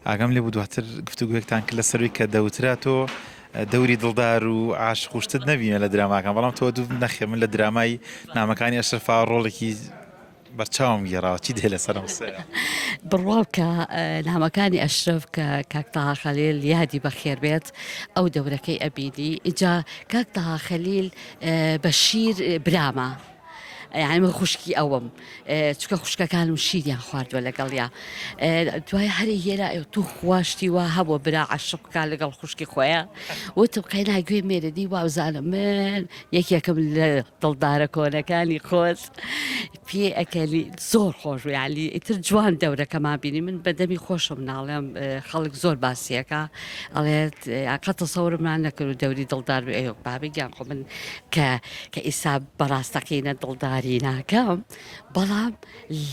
ئاگام لێبوو دواتر گفتوگۆیەکتان کرد لەسەروی کە دەوترا تۆ دەوری دڵدار و عاشق و شتت نەبینە لە دراماکان بەڵام تۆ دوو نەخێ من لە درامای نامەکانی ئەشرەفا ڕۆڵێکی بەرچاوم گێڕاوە چی دێ لەسەرم سەرە بڕوا بکە اه، نامەکانی ئەشرف کە کاک تەها خەلیل یادی بەخێر بێت ئەو دەورەکەی ئەبینی ئیجا کاک تەها خەلیل اه، بەشیر برامە یانی من خوشکی ئەوم چکە خوشکەکانم شیریان خواردووە لەگەڵیا دوای هەری هێرا تو خواشتی وا هەبوو برا عشقکە لەگەڵ خوشکی خۆیان وتم قەینا گوێ مێرەدی وابزانم من یەکێکم لە دڵدارە کۆنەکانی خۆز پێ ئەکەلی زۆر خۆش و یالی ئیتر جوان دەورەکەمان بینی من بەدەمی خۆشم ناڵێم خەڵک زۆر باسیەکە ئەڵێت قەتە سەورمان نەکرد و دەوری دڵدار و ئەیۆک بابی گیان خۆ من کە کە ئیستا بە ڕاستەقینە دڵداری ناکەم بەڵام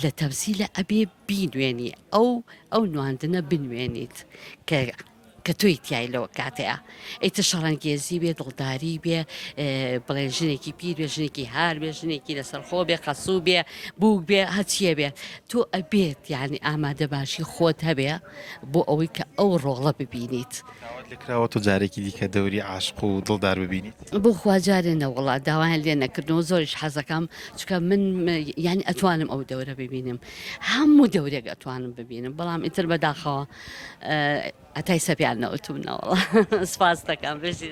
لە تەمسیلە ئەبێ بینوێنی ئەو ئەو نواندنە بنوێنیت کە کە تۆی تای لەوە کاتەیە ئیتر شەڕەنگێزی بێ دڵداری بێ بڵێن ژنێکی پیر بێ ژنێکی هار بێ ژنێکی لەسەر خۆ بێ قەسوو بێ بووک بێ هەچیە بێت تۆ ئەبێت یعنی ئامادە باشی خۆت هەبێ بۆ ئەوەی کە ئەو ڕۆڵە ببینیت. داوات لێ کراوە تۆ جارێکی دیکە دەوری عاشق و دڵدار ببینیت؟ بۆ خوا جارێ نە وەڵا داوایان لێ نەکردنەوە زۆریش حەزەکەم چکە من یانی ئەتوانم ئەو دەورە ببینم هەموو دەورێک ئەتوانم ببینم بەڵام ئیتر بەداخەوە ئەتای سەپیان نەوتومنەوەڵ سپاس دەکەم بژی.